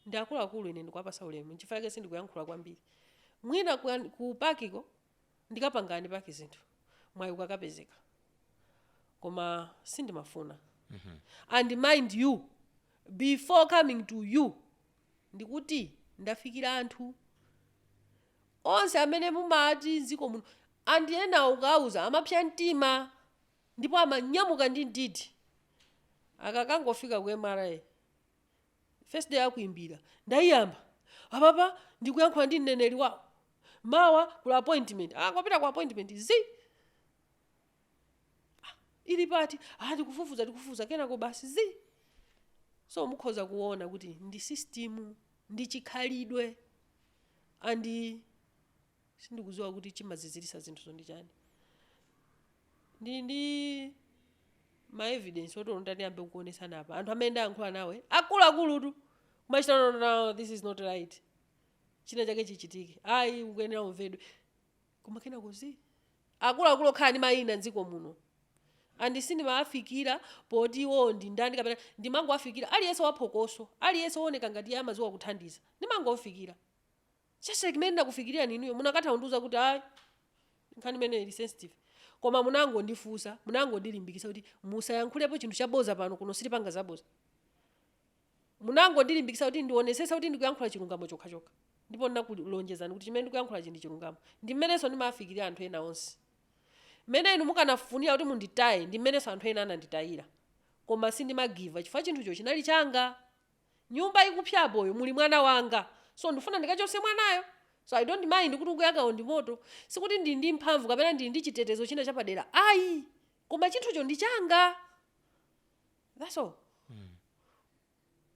ndi akuluakulu ine ndikuwapasa ulemu nchifukwa chake sindikuyankhula kwambiri mwina ku, ku pakiko ndikapangadi paki zinthu mwayi ukakapezeka koma sindimafuna and mind you before coming to you ndikuti ndafikira anthu onse amene mumati mdziko muno and enawo ukawauza amapsa mtima ndipo amanyamuka ndi mdidi akakangofika ku mra First day akuimbira ndaiyamba apapa ndikuyankhula ndi mneneri wawo mawa kuli appointment akapita ku appointment zi Ah, ili pati ah, tikufufuza tikufufuza kenako basi zi so mukhoza kuona kuti ndi system ndi chikhalidwe and Sindikudziwa kuti chimaziziritsa zinthuzo ndi chani. Ndili ndi ma evidence oti olo nditati ndiyambe kukuonetsani apa, anthu amene ndayankhula nawo e, akuluakulutu! Kumachita no no no no this is not right. China chake chichitike. Ayi ukuyenera umvedwe. Koma kenako zii. Akuluakulu okhala ndi mayina m'dziko muno. And sindimawafikira poti iwowo ndi ndani kapena ndimangowafikira aliyense waphokoso, aliyense wooneka ngati iye amadziwa kuthandiza. Ndimangom'fikira. Cashgate imene ndinakufikilirani inuyo munakatha kundiuza kuti ayi nkhani imeneyi ili sensitive koma munangondifunsa munangondilimbikitsa kuti musayankhulepo chinthu chaboza pano kuno sitipanga zaboza munangondilimbikitsa kuti ndionetsetse kuti ndikuyankhula chilungamo chokhachokha ndipo ndinakulonjezani kuti chimene ndikuyankhulachi ndi chilungamo ndi mmenenso ndimawafikilira anthu ena onse mmene inu mukanafunira kuti munditaye ndi mmenenso anthu ena ananditayira koma sindimagiva up chifukwa chinthucho chinali changa nyumba ikupsa apayo muli mwana wanga so ndikufuna ndikachotse mwanayo so i don't mind kuti ukuyakawo ndi moto sikuti ndili ndi mphamvu kapena ndili ndi chitetezo china chapadera ayi koma chinthucho ndi changa that's all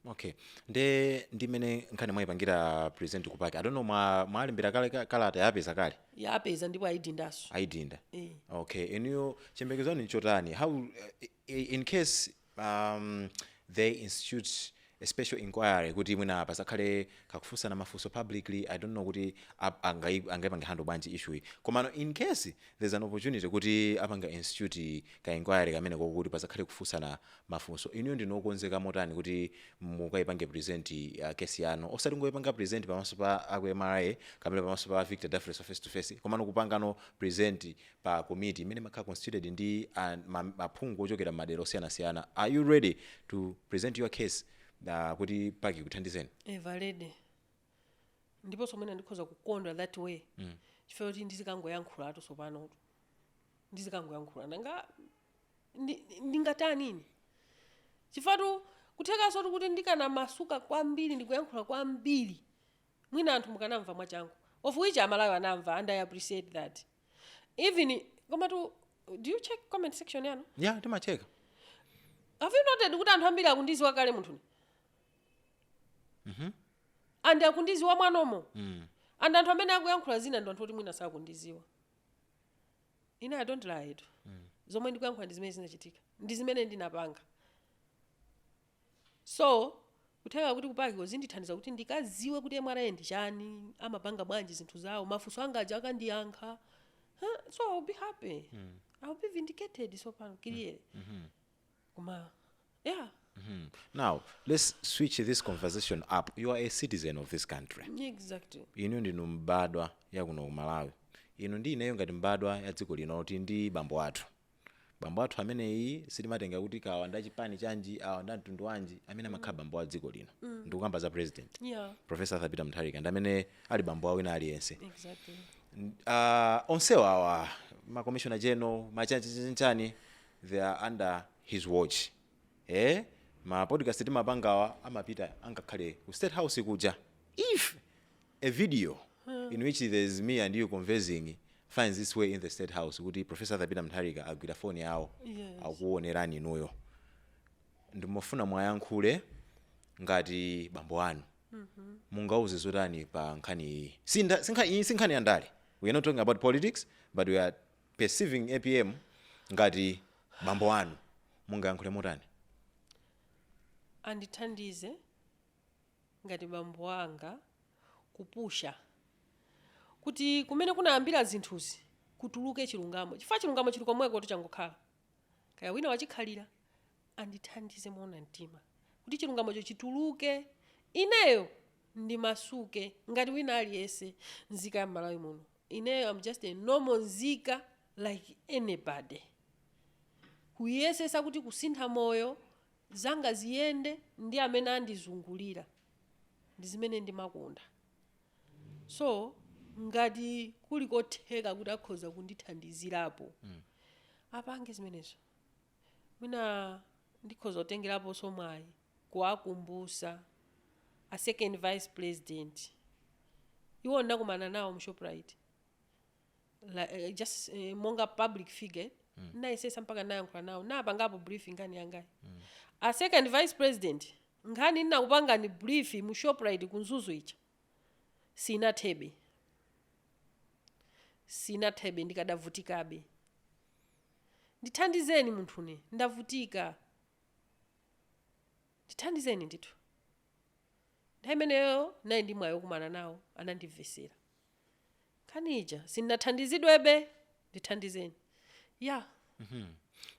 okay nde ndi mmene nkhani mwayipangira present ku pac i don't know mwa- mwalembera kale ka- kalata yapeza kale yapeza ndipo ayidindaso ayidinda eh. okay inuyo chiyembekezo chanu nchotani how eh, i- in case um, they institute a special inquiry kuti mwina pasakhale kakufunsana mafunso publicly i don't know kuti ap- angai- angaipange handle bwanji issue iyi komano in case there's an opportunity kuti apanga institute ka inquiry kamene kokuti pasakhale kufunsana mafunso inuyo ndinu okonzeka motani kuti mukaipange present uh, kesi yanu osati kungoipanga present pamaso pa aku mra kapena pamaso pa victor dafres face to face komano kuipangano present pa komiti imene imakhala constituted ndi a, ma, maphungu ochokera m'madera osiyanasiyana are you ready to present your case uh, kuti pac ikuthandizeni very ready ndiponso mwina ndikhoza kukondwa that way chifukwa kuti ndizikangoyankhulatu tsopano ndizikangoyankhula nanga ndi- ndingatani ine chifukwatu kuthekansotu kuti ndikanamasuka kwambiri ndikuyankhula kwambiri mwina anthu mukanamva mwachangu of which amalawi anamva and i appreciate that even komatu do you check comment section yanu ya timacheka have you noted kuti anthu ambiri akundiziwa kale munthune and akundiziwa mwanumo mm. and anthu amene akuyankhula zina ndi anthu oti mwina sakundiziwa ine i don't lie tu zomwe ndikuyankhula ndi zimene zinachitika ndi zimene ndinapanga So, kutheka kuti ku PAC ko zindithandiza kuti ndikaziwe kuti mra ndi chani, amapanga bwanji zinthu zawo, mafunso anga aja akandiyankha, huh? so I'll be happy. I'll be vindicated tsopano, kiliere. Koma, yeah, Hmm. Now, let's switch this conversation up. You are a citizen of this country. exactly. Inu ndinu mbadwa ya kuno ku Malawi. Inu ndi ineyo ngati mbadwa ya dziko lino kuti ndi bambo athu. bambo athu ameneyi sitimatenga kuti kawa nda chipani chanji awa nda mtundu wanji amene amakhala bambo wa dziko lino ndikukamba za president yeah professor arthur peter mutharika ndi amene ali bambo wa wina aliyense exactly uh, onsewa awa ma commissioner general machanchani they are under his watch eh ma podcast timapangawa amapita angakhale ku state house kuja if A video in which there is me and you conversing finds its way in the state house kuti Professor Arthur Peter Mutharika agwira phone yawo Yes. akuonerani inuyo. Ndimafuna mwayankhule ngati bambo anu. Mungauze zotani pa nkhani iyi. Si nda- si nkha- iyi si nkhani ya ndale. We are not talking about politics but we are perceiving APM ngati bambo anu. Mungayankhule motani? andithandize ngati bambo anga kupusha kuti kumene kunayambira zinthuzi kutuluke chilungamo chifukwa chilungamo chili komweko kuti changokhala kaya wina wachikhalira andithandize moona mtima kuti chilungamocho chituluke ineyo ndimasuke ngati wina aliyense nzika ya m'malawi muno ineyo am just a normal nzika like anybody kuyesesa kuti kusintha moyo zanga ziyende ndi amene andizungulira ndi zimene ndimakonda so ngati kuli kotheka kuti akhoza kundithandizirapo apange zimenezo mwina ndikhoza kutengeraponso mwayi kuwakumbusa a second vice president iwo ndakumana nawo mu shoprite la, eh, just eh, monga public figure mm. nayesesa mpaka nayankhula nawo napangapo brief nkhani yangayi mm. a second vice president nkhani ndinakupangani brief mu shoprite ku Mzuzu ija sinathebe sinathebe ndikadavutikabe ndithandizeni munthu une ndavutika ndithandizeni ndithu nthawi imeneyo nali ndi mwayi wokumana nawo anandimvesera nkhani ija sindinathandizidwebe ndithandizeni ya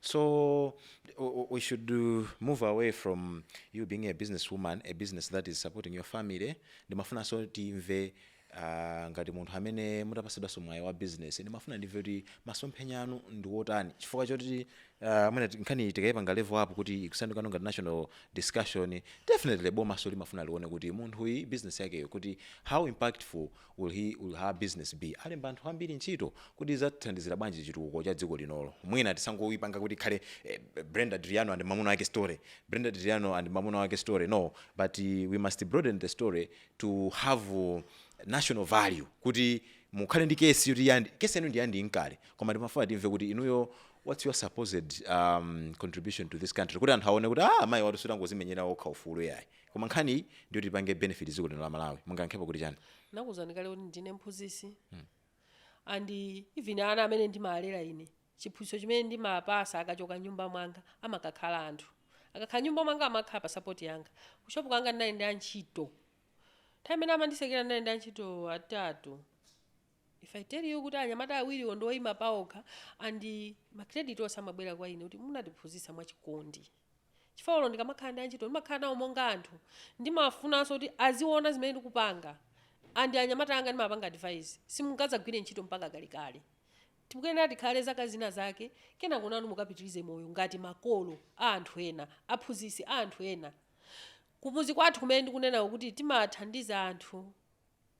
So w- w- we should uh, move away from you being a businesswoman, a business that is supporting your family. Ndimafunanso timve uh, ngati munthu amene mutapatsidwanso mwayi wa business ndimafuna ndimve kuti masomphenya anu ndi wotani chifukwa choti aah mwina nkhaniyi tikaipanga level up kuti ikusanduka ngati national discussion definitely bomanso limafuna lione kuti munthuyi business yakeyo kuti how impactful will he will her business be alemba anthu ambiri ntchito kodi idzathandizira bwanji chitukuko cha dziko linolo mwina tisangoipanga kuti ikhale eh, Brenda Adriano and mamuna wake story Brenda Adriano and mamuna wake story no but eh, we must broaden the story to have uh, national value kuti mukhale ndi kesi yoti inde kesi yanu ndi ya individual koma ndimafuna timve kuti inuyo whats your supposed um, contribution to this country kuti anthu aone kuti ah, amayi awatu sakungodzimenyera okha ufulu yayi koma nkhani iyi ndi yoti ipange benefit dziko lino la malawi mungayankhepo kuti chani nakuzani kale kuti ndine mphunzitsi and even ana amene ndimalera ine chiphunzitso chimene ndimawapatsa akachoka m'nyumba mwanga amakakhala anthu akakhala m'nyumba mwanga amakhala pa sapoti yanga kushopu kwanga ndinali ndi antchito nthawi imene amanditsekera ndinali ndi antchito atatu If I tell you kuti anyamata awiriwo ndi oima paokha and ma credit onse amabwera kwa ine kuti munatiphunzitsa mwachikondi chifukwa olo ndikamakhala ndi antchito ndimakhala nawo monga anthu ndimafunanso kuti aziona zimene ndikupanga and anyamata anga ndimawapanga advise simungadzagwire ntchito mpaka kalekale tikuyenera tikhale zaka zina zake kenako nanu mukapitirize moyo ngati makolo a anthu ena aphunzitsi a anthu ena kumudzi kwathu kumene ndikunenako kuti timathandiza anthu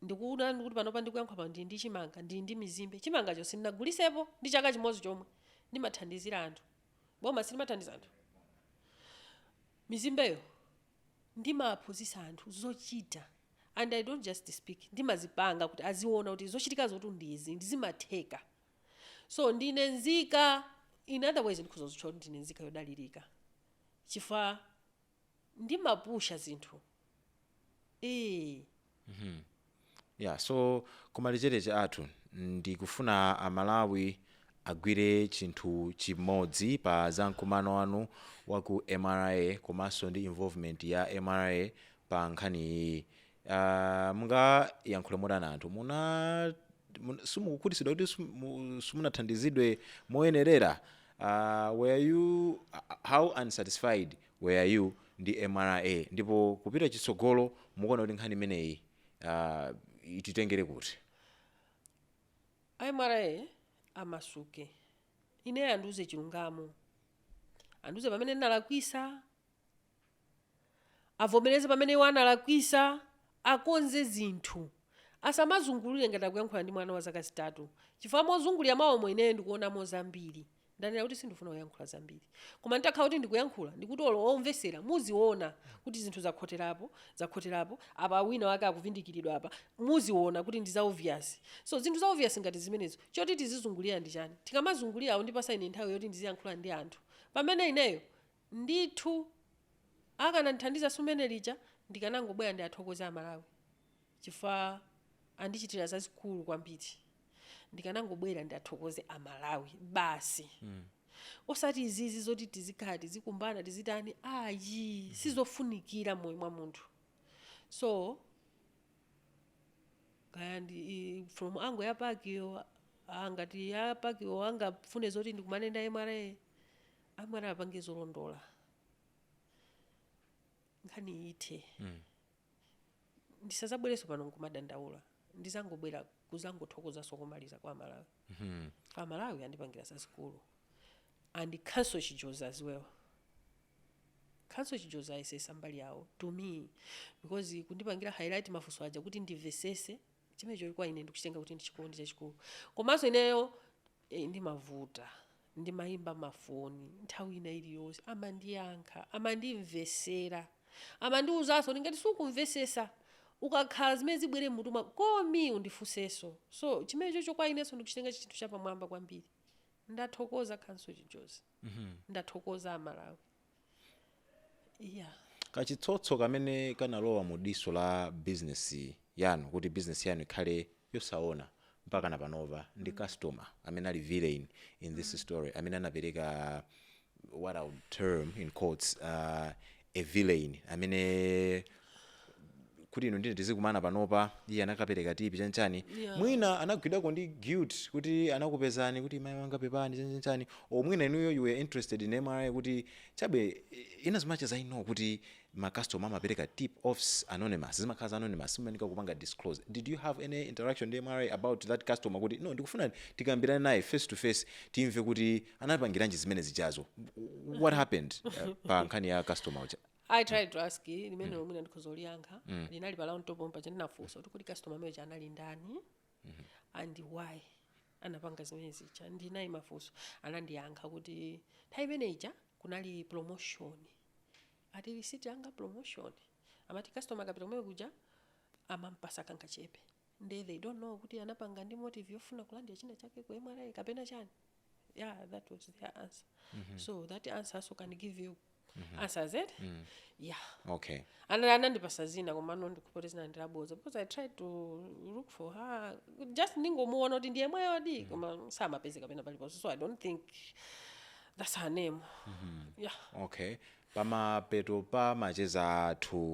Ndikukuuzani kuti panopa ndikuyankhula pano ndili ndi chimanga, ndili ndi mizimbe. Chimangacho sindinagulitsepo ndi chaka chimodzi chomwe. Ndimathandizira anthu. Boma si limathandiza anthu? Mizimbeyo ndimawaphunzitsa anthu zochita and I don't just speak, ndimazipanga kuti aziona kuti zochitikazotu ndi izi and zimatheka. So ndine nzika, in other ways ndikhoza kuzitchula kuti ndine nzika yodalirika chifukwa. ndimapusha zinthu ee. mmh yeah so kumalizira macheza athu ndikufuna amalawi agwire chinthu chimodzi pa za mkumano wanu wa ku mra komanso ndi involvement ya mra pa nkhani iyiyi Ah, mungayankhule motani anthu muna mun- simukukhutitsidwa kuti simu- simunathandizidwe moyenerera Ah, were you how unsatisfied were you ndi mra ndipo kupita chitsogolo mukuona kuti nkhani imeneyi ah, ititengere kuti a mra amasuke ineyo andiuze chilungamo andiuze pamene ndinalakwitsa Avomereze pamene iwo analakwisa, akonze zinthu. Asamazungulire ngati akuyankhula ndi mwana wa zaka zitatu chifukwa mozungulira mwawomo ineyo ndikuonamo zambiri. Ndanena kuti sindifuna kuyankhula zambiri. Koma nditakhala kuti ndikuyankhula ndikuti olo omvesera muziona kuti zinthu zakhoterapo, zakhoterapo, apa wina wake akuvindikiridwa apa, muziona kuti ndi za obvious. So zinthu za obvious ngati zimenezo choti tizizungulira ndi chani? Tikamazungulira akundipasa ine nthawi yoti ndiziyankhula ndi anthu pamene ineyo Ndithu akanandithandiza tsiku limene lija ndikanangobwera ndiathokoze amalawi chifukwa andichitira zazikulu kwambiri ndikanangobwera ndiathokoze amalawi basi osati izizi zoti tizikhala tizikumbana tizitani ayi sizofunikira mmoyo mwa munthu so kaya ndi i- from angle ya pakiyo ah, ngati ya pakiyo angafune zoti ndikumane ndi a mra a mra apange zolondola nkhani ithe Mm. ndisazabwerenso pano nkumadandaula ndizangobwera kuzangothokozanso komaliza kwa amalawi Mhm. amalawi andipangira zazikulu and counsel chijozi as well Counsel chijozi ayesesa mbali yawo to me because kundipangira highlight mafunso aja kuti ndimvesese chimenecho kwa ine ndikuchitenga kuti ndi chikondi chachikulu komanso ineyo eh, ndimavuta ndimayimba mafoni nthawi ina iliyonse amandiyankha amandimvesera amandiwuzanso ndingati sukumvesesa ukakhala zimene zibwere mmutu mwakomo undifunsenso so chimenechocho kwa inenso ndikuchitenga chinthu chapamwamba kwambiri ndathokoza counsel chijozi ndathokoza amalawi iya kachitsotso kamene kanalowa mu diso la business yanu kuti business yanu ikhale yosaona mpaka na panopa ndi customer amene ali villain in this story amene anapereka what I would term in quotes uh, a villain amene kuti inu ndine tizikumana panopa iye anakapereka tip chanchani Yeah. mwina anagwidwako ndi guilt kuti anakupezani kuti mai wanga pepani chanchanchani or mwina inuyo you were interested in mra kuti chabwino as much as I know kuti macustomer amapereka tip offs anonymous zimakhala za anonymous simafunika kupanga disclose did you have any interaction ndi mra about that customer kuti no ndikufuna tikambirane naye face to face timve kuti anapangiranji zimene zijazo what happened uh, pa nkhani ya customer uja i tried to ask eh, limene lomwe ndikhoza kuliyankha linali pala mtopo mpaja ndinafunsa kuti kuti customer amene uja anali ndani and why anapanga zimene zija ndinayi mafunso anandiyankha kuti nthawi imene ija kunali promotion ati lisiti yanga promotion amati customer akapita kumene kuja amampasa kangachepe nde they don't know kuti anapanga ndi motive yofuna kulandira china chake ku mra kapena chani yeah that was their answer so that answer also can give you answers eti yeah okay and anandipasa dzina komano ndikuwona kuti dzina ndi laboza because i tried to look for her just ndingomuona kuti ndi yemweyodi koma samapezeka pena paliponse so i don't think that's her name yeah okay pamapeto pa macheza athu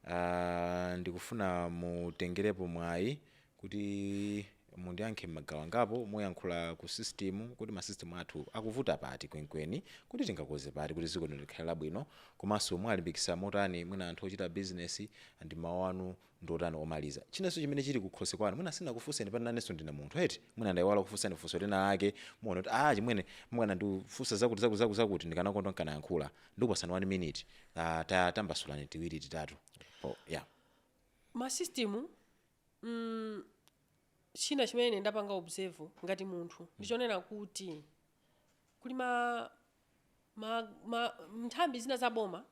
uh, ndikufuna mutengerepo mwayi kuti mundiyankhe mmagawo angapo muyankhule ku system kuti ma system athu akuvuta pati kwenkweni kuti tingakonze pati kuti ziko lino likhale labwino komanso muwalimbikisa motani mwina anthu ochita business and mawu anu ndiotani omaliza chinanso chimene chili kukhosi kwanu mwina sindinakufuseni pati nanenso ndine munthu eti mwina ndaiwala kufusani funso lina lake mukuona kuti achimwene mukanandifunsa zakuti zakuti zakuti zakuti ndikanakondwa nkanayankhula ndikupasani 1 minute ah, ta- tambasulani tiwiri titatu oh, yeah ma system mm, china chimene ine ndapanga observe ngati munthu ndichonena kuti kuli ma ma, ma nthambi zina za boma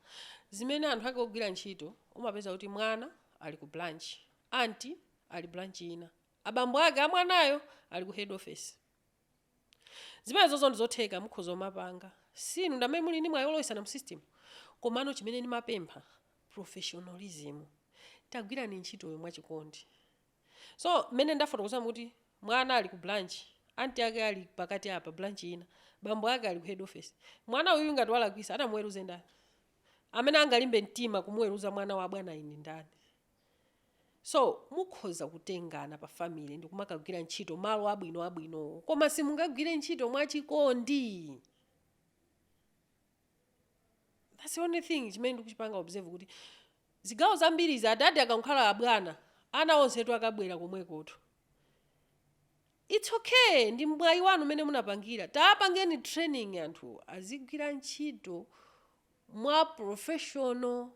zimene anthu ake ogwira ntchito umapeza kuti mwana ali ku branch anti ali branch ina abambo ake a mwanayo ali ku head office Zimenezozo ndi zotheka, mukhoza kumapanga. Si inu ndi amene muli ndi mwayi wolowetsana mu system. Komano chimene ndimapempha, professionalism. Tagwirani ntchitoyo mwachikondi. So, mmene ndafotokozamu kuti mwana ali ku branch, aunt ake ali pakati apa, branch ina, bambo ake ali ku head office. Mwana uyuyu ngati walakwitsa, atamuweruze ndani? Amene angalimbe mtima kumuweruza mwana wa abwanayu ndi ndani? So mukhoza kutengana pa family ndikumakagwira ntchito malo abwino abwinowo koma simungagwire ntchito mwachikondi. That's the only thing chimene ndikuchipanga observe kuti zigawo zambiri izi adadi akakhala abwana ana onsetu akabwera komwekotu. It's okay ndi mwayi wanu umene munapangira tapangeni training anthu azigwira ntchito mwa professional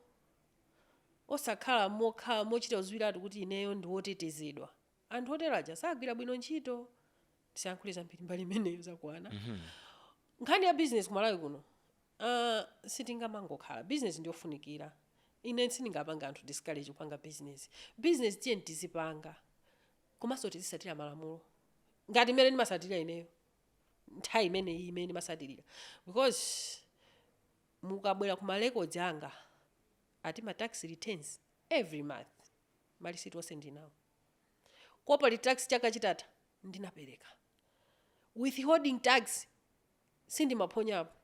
osakhala mokhala mochita kudziwiratu kuti ineyo ndi wotetezedwa. Anthu otero aja sagwira bwino ntchito. Tisayankhule zambiri mbali imeneyo zakwana. Nkhani ya bizinesi ku Malawi kuno, ah, sitingamangokhala. Bizinesi ndi yofunikira. Ine sindingapange anthu discourage kupanga bizinesi. Bizinesi tiyeni tizipanga. Komanso tizitsatira malamulo. Ngati mmene ndimatsatirira ineyo. Nthawi imeneyi imene ndimatsatirira. Because Mukabwera ku ma records anga ati ma tax returns every month ma receipt onse ndili nawo. Corporate tax chaka chitatha ndinapereka. Withholding tax sindimaphonyapo.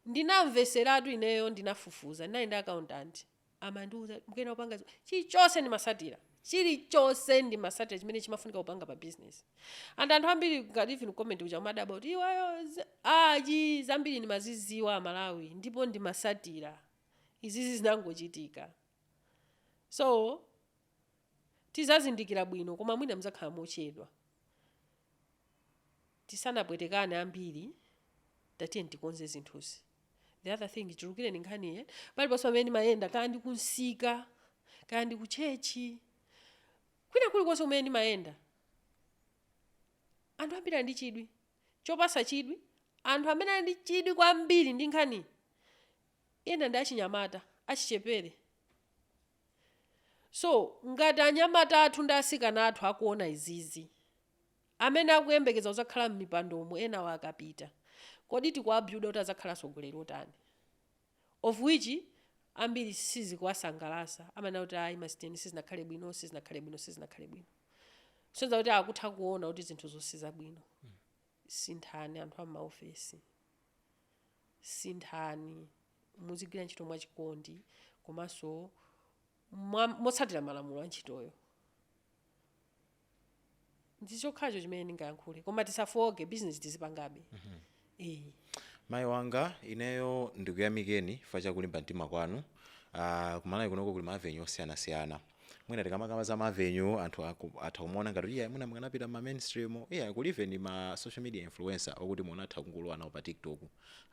Ndinamvetseratu ineyo ndinafufuza ndinali ndi accountant. amandiuza mukanapanga zi- chilichonse ndimasatira chilichonse ndimasatira chimene chimafunika kupanga pa business and anthu ambiri ngati even comment uja umadabwa kuti iwayo zi- aji zambiri ndimaziziwa amalawi ndipo ndimasatira izizi zinangochitika so tizazindikira bwino koma mwina mzakhala mochedwa tisanapwetekane ambiri tatiyeni tikonze zinthuzi the other thing ichulukire nkhani eh? paliponse pamene ndimayenda kaya ndi kumsika kaya ndi kutchechi kwina kulikonse kumene ndimayenda anthu ambiri ali ndi chidwi chopasa chidwi anthu amene ali ndi chidwi kwambiri ndi nkhani ina ndi achinyamata achichepere so ngati anyamata athu ndi asikana athu akuona izizi Amene akuyembekeza kudzakhala m'mipandomo enawo akapita, kodi tikuwa builda kuti adzakhala atsogoleri otani? Of which ambiri sizikuwasangalasa amanena kuti ayi masiteni sizinakhale bwino sizinakhale bwino sizinakhale bwino. Kusonyeza kuti akutha kuona kuti zinthuzo sizabwino. Sinthani anthu a m'maofesi. Sinthani muzigwira ntchito mwachikondi komanso motsatira malamulo a ntchitoyo. ndi chokhacho chimene ndingayankhule koma tisafooke business tizipangabe eh mayi wanga ineyo ndikuyamikeni chifukwa cha kulimba mtima kwanu uh, kumalawi kunoko kuli ma avenue osiyanasiyana mwina tikamakamba za ma avenue anthu aku- atha kumaona ngati ayi mwina mukanapita ma mainstream media kuli even ma social media influencers okuti mukanatha kungolowa nawo pa tiktok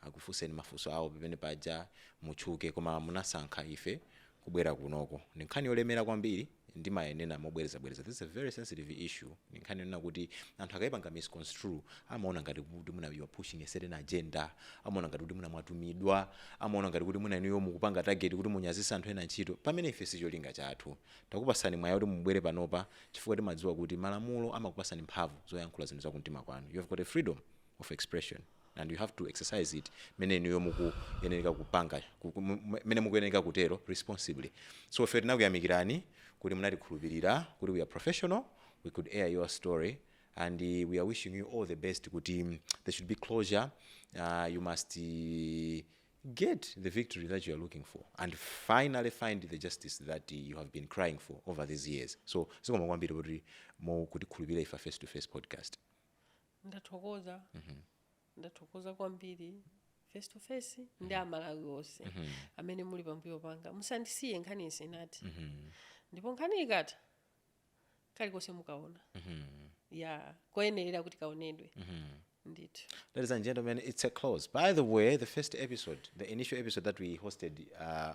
akufunseni mafunso awo pamene paja mutchuke koma munasankha ife kubwera kunoko ndi nkhani yolemera kwambiri ndimanena mobwerezabwereza this is a very sensitive issue ndi nkhani yonena kuti anthu akaipanga misconstrue amaona ngati kuti mwina you are pushing a certain agenda amaona ngati kuti mwina mwatumidwa amaona ngati kuti mwina inuyo mukupanga target kuti munyazise anthu ena ntchito pamene ife si cholinga chathu takupasani mwayi kuti mubwere panopa chifukwa timadziwa kuti malamulo amakupasani mphamvu zoyankhula zinthu za kumtima kwanu you have got a freedom of expression and you have to exercise it mene inuyo mukuyenereka kupanga ku- ku- mu- mu- mene mukuyenereka kutero responsibly so ife tinakuyamikirani kuti munatikhulupirira kuti we are professional we could air your story and uh, we are wishing you all the best kuti mm, there should be closure uh, you must uh, get the victory that you are looking for and finally find the justice that uh, you have been crying for over these years so zikomo kwambiri kuti mukutikhulupirira ife face to face podcast ndathokoza ndathokoza kwambiri face to face ndi amalawi onse amene muli pambuyo panga musandisiye nkhani isanathe ndipo nkhani ikatha kalikonse mukaona kakuyenerera kuti kaonedwe ndithu Ladies and gentlemen, it's a close. By the way, the first episode, the initial episode that we hosted uh,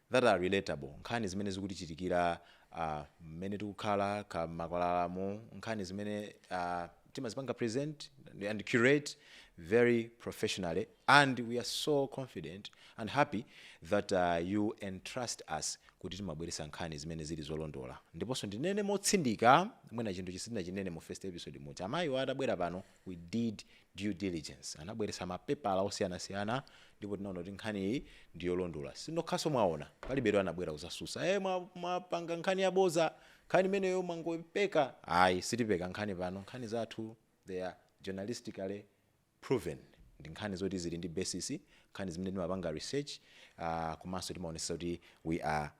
that are relatable, nkhani zimene zikutichitikira uh, mmene tikukhala m'makwalalamu nkhani zimene uh, timazipanga present and curate very professionally and we are so confident and happy that uh, you entrust us kuti timabweretsa nkhani zimene zili zolondola ndiponso ndinene motsindika mwina chinthu chimene sindinachinene mu first episode n'kuti amayiwo atabwera pano We did due diligence. Anabweretsa mapepala osiyanasiyana ndipo tinaona kuti nkhaniyi ndi yolondola. Sinokhaso mwaona, palibetu anabwera kudzatsutsa, hey, mwapanga nkhani yabodza, nkhani imeneyo mwangoipeka. Ayi, sitipeka nkhani pano. Nkhani zathu they are journalistically proven. Ndi nkhani zoti zili ndi basis, nkhani zimene timapanga research, uh, komanso timaonetsetsa kuti we are.